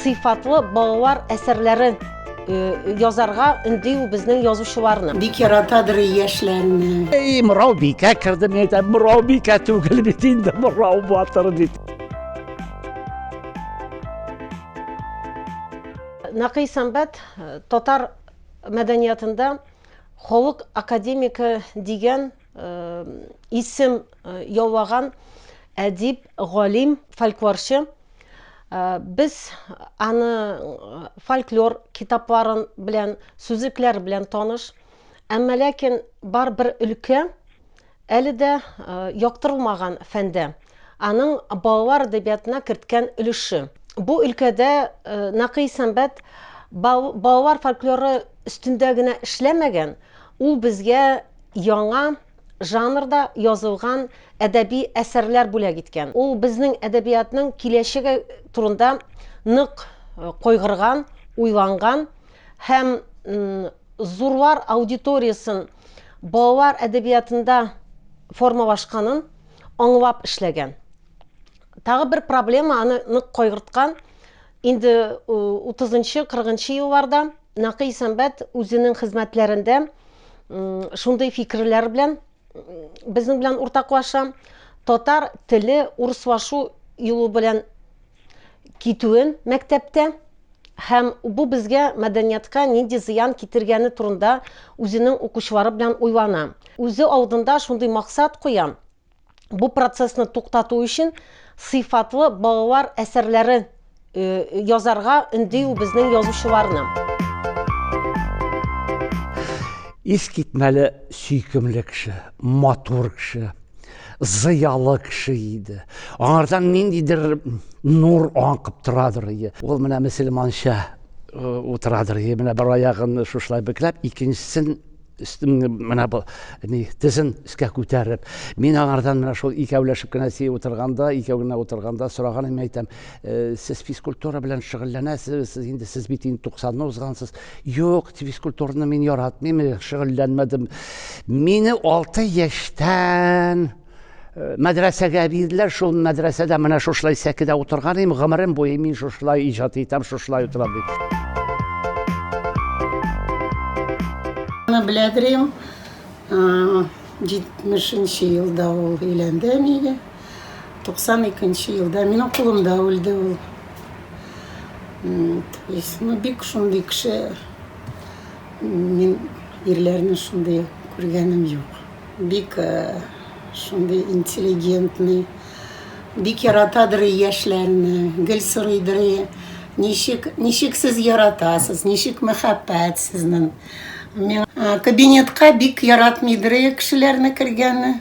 сыйфатлы балалар әсәрләрен э, язарга үндию безнең язучыларны. Бик яратадыр яшьләрне. Эй, мурау бикә керде, мин әйтәм, мурау бикә түгел бит инде, мурау батыр бит. Нәкый сәнбәт э, татар мәдәниятында халык академигы дигән исем яулаган әдип, галим, фольклорчы. Без аны фольклор китапларын белән, сүзлекләр белән таныш. Әмма ләкин бар бер өлкә Әле дә яктырылмаган фәндә, аның балалар әдәбиятына керткән өлеше. Бу өлкәдә Нәкый Сәмбәт балалар фольклоры өстендә генә эшләмәгән, ул безгә яңа жанрда язылган әдәби әсәрләр бүләк иткән. Ул безнең әдәбиятның киләчәге турында нык кайгырган, уйланган һәм зурлар аудиториясен балалар әдәбиятында формалашканын аңлап эшләгән. Тагы бер проблема аны нык кайгырткан. Инде 30-нчы, 40-нчы елларда Нәкый Сәмбәт үзенең хезмәтләрендә шундый фикерләр белән безнең белән уртаклаша. Татар теле урыслашу юлы белән китүе мәктәптә һәм бу безгә мәдәниятка нинди зыян китергәне турында үзенең укучылары белән уйлана. Үзе алдында шундый максат куя, бу процессны туктату өчен сыйфатлы балалар әсәрләре язарга өнди ул безнең язучыларны. Искитмәле сөйкемле кеше, матур кеше. зыялы кеше иде аңардан ниндидер нур аңкып торадыр иде ул менә мөселманча э, утырадыр иде менә бер аягын шушылай бөкләп икенчесен менә бу ни тезен өскә күтәреп мин аңардан менә шул икәүләшеп кенә сей утырганда икәү генә утырганда сораганым әйтәм э, сез физкультура белән шөгыльләнәсез сез инде сез бит инде туксанны узгансыз Юк, физкультураны мин яратмыйм, шөгыльләнмәдем. Мине алты яшьтән э, мәдрәсәгә бирделәр, шул мәдрәсәдә менә шушылай сәкедә утырган идем, гомерем буе мин шушылай иҗат итәм, шушылай утырам дип. Аны беләдерим, 70 елда ул өйләнде әниге. 92 нче елда минем кулымда үлде ул. То есть, ну, бик шундый кеше, мин ирләрне шундый күргәнем юк. Бик э, шундый интеллигентный, бик яратадыр яшьләрне, гел сорыйдыр, ничек, ничек сез яратасыз, ничек мәхәббәт сезнең. Миңа э, кабинетка бик яратмыйдыр кешеләрне кергәнне.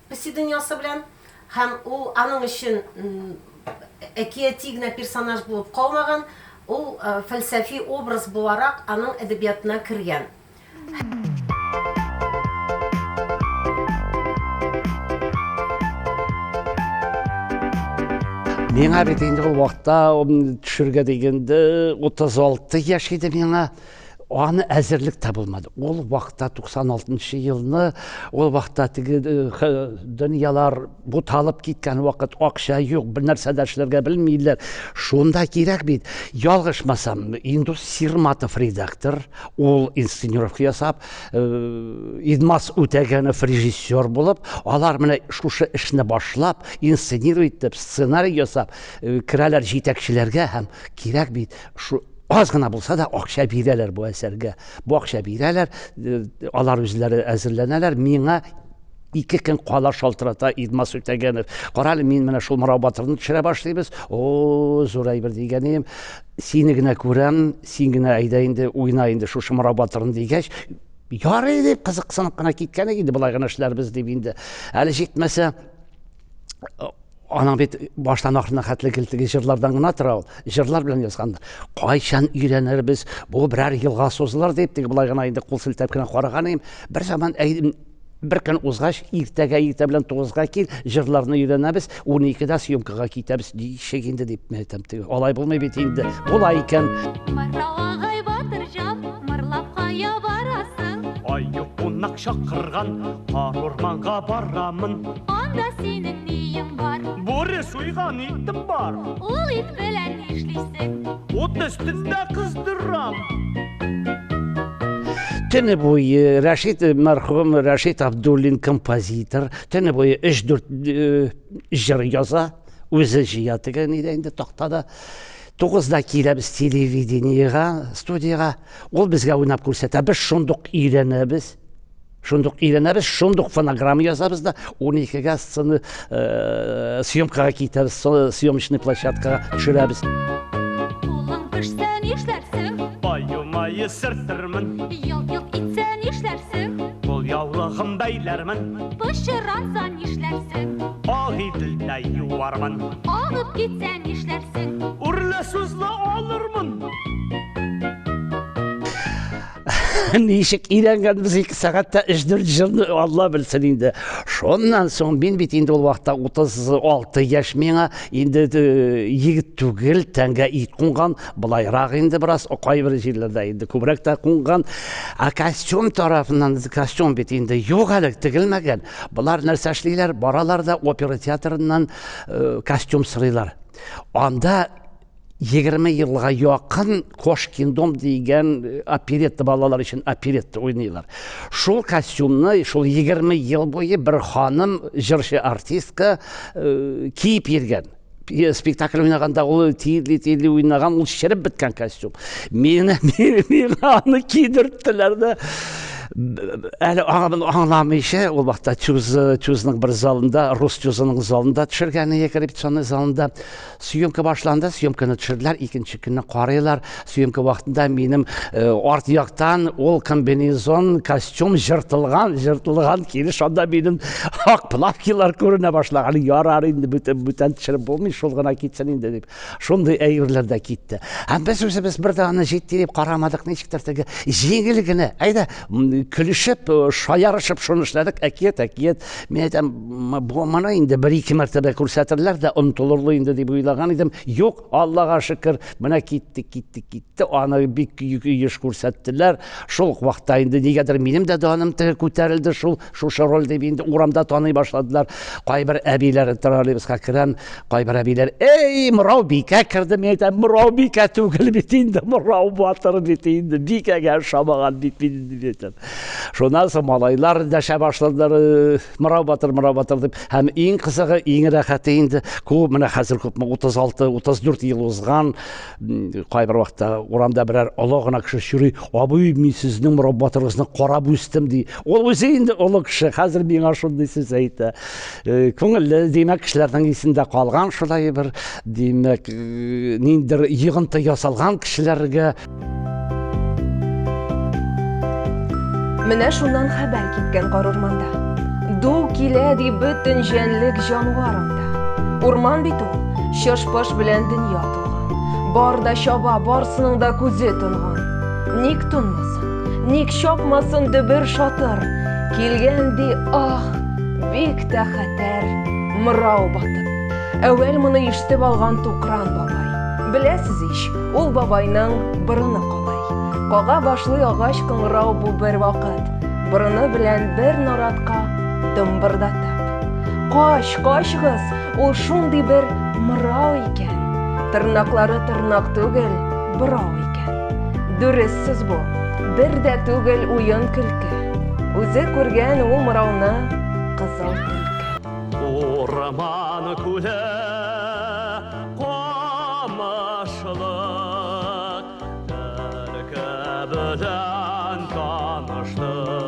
Песи дөньясы белән һәм ул аның өчен әкияти генә персонаж булып калмаган, ул фәлсәфи образ буларак аның әдәбиятына кергән. Миңа бит инде ул вакытта төшергә дигәндә 36 яшь иде миңа. Аны әзерлек тә булмады. Ул вакытта 96 нчы елны, ул вакытта теге э, дөньялар буталып киткән вакыт, акча юк, бер нәрсә дә эшләргә белмиләр. Шунда кирәк бит. Ялгышмасам, Индус Сирматов редактор, ул инсценировка ясап, э, Идмас Үтәгәнов режиссер булып, алар менә шушы эшне башлап, инсценировать итеп, сценарий ясап, э, керәләр җитәкчеләргә һәм кирәк бит. Шу аз гына булса да акча бирәләр бу әсәргә. Бу акча бирәләр, э, алар үзләре әзерләнәләр. Миңа ике көн кала шалтырата Идмас Үтәгәнов. Кара әле, мин менә шул Морау батырны төшерә башлыйбыз. О, зур әйбер дигән идем. Сине генә күрәм, син генә әйдә инде, уйна инде шушы Морау батырын дигәч, ярый дип кызыксынып кына киткән иде, болай гына эшләрбез дип инде. Әле җитмәсә, аның бит баштан ахырына хәтле килтеге җырлардан гына тора ул җырлар белән язгандыр кайчан өйрәнербез бу берәр елга сузылыр дип теге болай гына инде кул селтәп кенә караган идем бер заман бер көн узгач иртәгә иртә белән тугызга кил җырларны өйрәнәбез уникедә съемкага китәбез ничек инде дип әйтәм теге алай булмый бит инде болай икән Кымырлап кая барасың? Аю кунак чакырган, кар урманга барамын. Анда синең ниең бар? Бүре суйган итем бар. Ул ит белән нишлисең? Ут өстендә кыздырам. Төне буе Рәшит мәрхүм Рәшит Абдуллин композитор, төне буе 3-4 җыр яза, үзе җыя тегән иде инде тактада. Тугызда киләбез телевидениегә, студиягә. Ул безгә уйнап күрсәтә. Без шундук өйрәнәбез. Шундук өйрәнәбез, шундук фонограмма язабыз да, уникегә сцена, съемкага китәбез, съемочный площадкага төшерәбез. Кулың пешсә нишләрсең? Аю мае сөртермен. Елт-йолт итсә нишләрсең? Кул яулыгым бәйләрмен. Пычраса нишләрсең? Ак иделдә юармын. Агып китсә нишләрсең? Үрле сүзле алырмын. Ничек өйрәнгән без 2 сәгатьтә 3-4 җырны Алла белсен инде. Шуннан соң мин бит инде ул вакытта 36 яшь миңа, инде э, егет түгел, тәнгә ит кунган, былайрак инде бераз кайбер җирләрдә инде күбрәк тә кунган. Ә костюм тарафыннан костюм бит инде юк әле тегелмәгән. Болар нәрсә эшлиләр? Баралар да опера театрыннан Э, костюм сырыйлар анда егерме елга якын кошкин дом дигән э, оперетта балалар өчен оперетта уйныйлар шул костюмны шул егерме ел буе бер ханым җырчы артистка э, киеп йөргән спектакль уйнаганда ул тиерли тиерли уйнаган ул череп беткән костюм миңа аны кидерттеләр дә Әле аңын аңламыйча, ул вакытта чуз, чузның бер залында, рус чузының залында төшергән иек репетиционный залында. Съемка башланды, съемканы төшерделәр, икенче көнне карыйлар. Съемка вакытында минем э, арт яктан ул комбинезон, костюм жыртылган, жыртылган килеш шунда минем ак плавкилар күренә башлаган. Ярар инде бүтән бүтән төшереп булмый, шул гына китсен инде дип. Шундый әйберләр дә китте. Һәм без үзебез бер дә аны җитди дип карамадык, ничектер теге җиңел генә, әйдә, көлешеп, шаярышып шуны эшләдек, әкият, әкият. Мин әйтәм, бу моны инде бер-ике мәртәбә күрсәтерләр дә онтылырлы инде дип уйлаган идем. Юк, Аллага шөкер, менә китте, китте, китте. Аны бик еш күрсәттеләр. Шул ук вакытта инде нигәдер минем дә даным теге күтәрелде шул Шушы роль дип инде урамда таный башладылар. Кайбер әбиләр троллейбуска керәм, кайбер әбиләр, "Эй, морау бикә керде", мин әйтәм, "Морау бикә түгел бит инде, морау батыр бит инде, бикәгә ошамаган бит мин инде", дип әйтәм. Шуннан соң малайлар дәшә башладылар, э, "Морау батыр, морау батыр" дип. Һәм иң кызыгы, иң рәхәте инде, күп, менә хәзер күпме, 36, 34 ел узган, кайбер вакытта урамда берәр олы гына кеше чөри абый мин сезнең мораббатыгызны карап үстем ди ул үзе инде олы кеше хәзер миңа шундый сүз әйтә э, күңелле димәк кешеләрнең исендә калган шулай бер димәк э, ниндидер йыгынты ясалган кешеләргә менә шуннан хәбәр киткән карурманда ду килә ди бөтен җәнлек җанвар анда урман бит ул чыш белән дөнья Бар да чаба, барсының да күзе тонган. Ник тонмасын, ник чапмасын дөбер шатыр. Килгән ди, ах, бик тә хәтәр, мырау батып. Әүвәл моны ишетеп алган Тукран бабай. Беләсез ич, ул бабайның борыны калай. Кага башлый агач кыңгырау бу бер вакыт. Борыны белән бер наратка дымбырдатып. Кач, качгыз, Ул шундый бер мырау икән. Тырнаклары тырнак түгел, бырау икән. Дөрес сүз бу. Бер дә түгел уен көлке. Үзе күргән ул мырауны кызыл төлке. Урман күле камышлы төлке белән таныштык.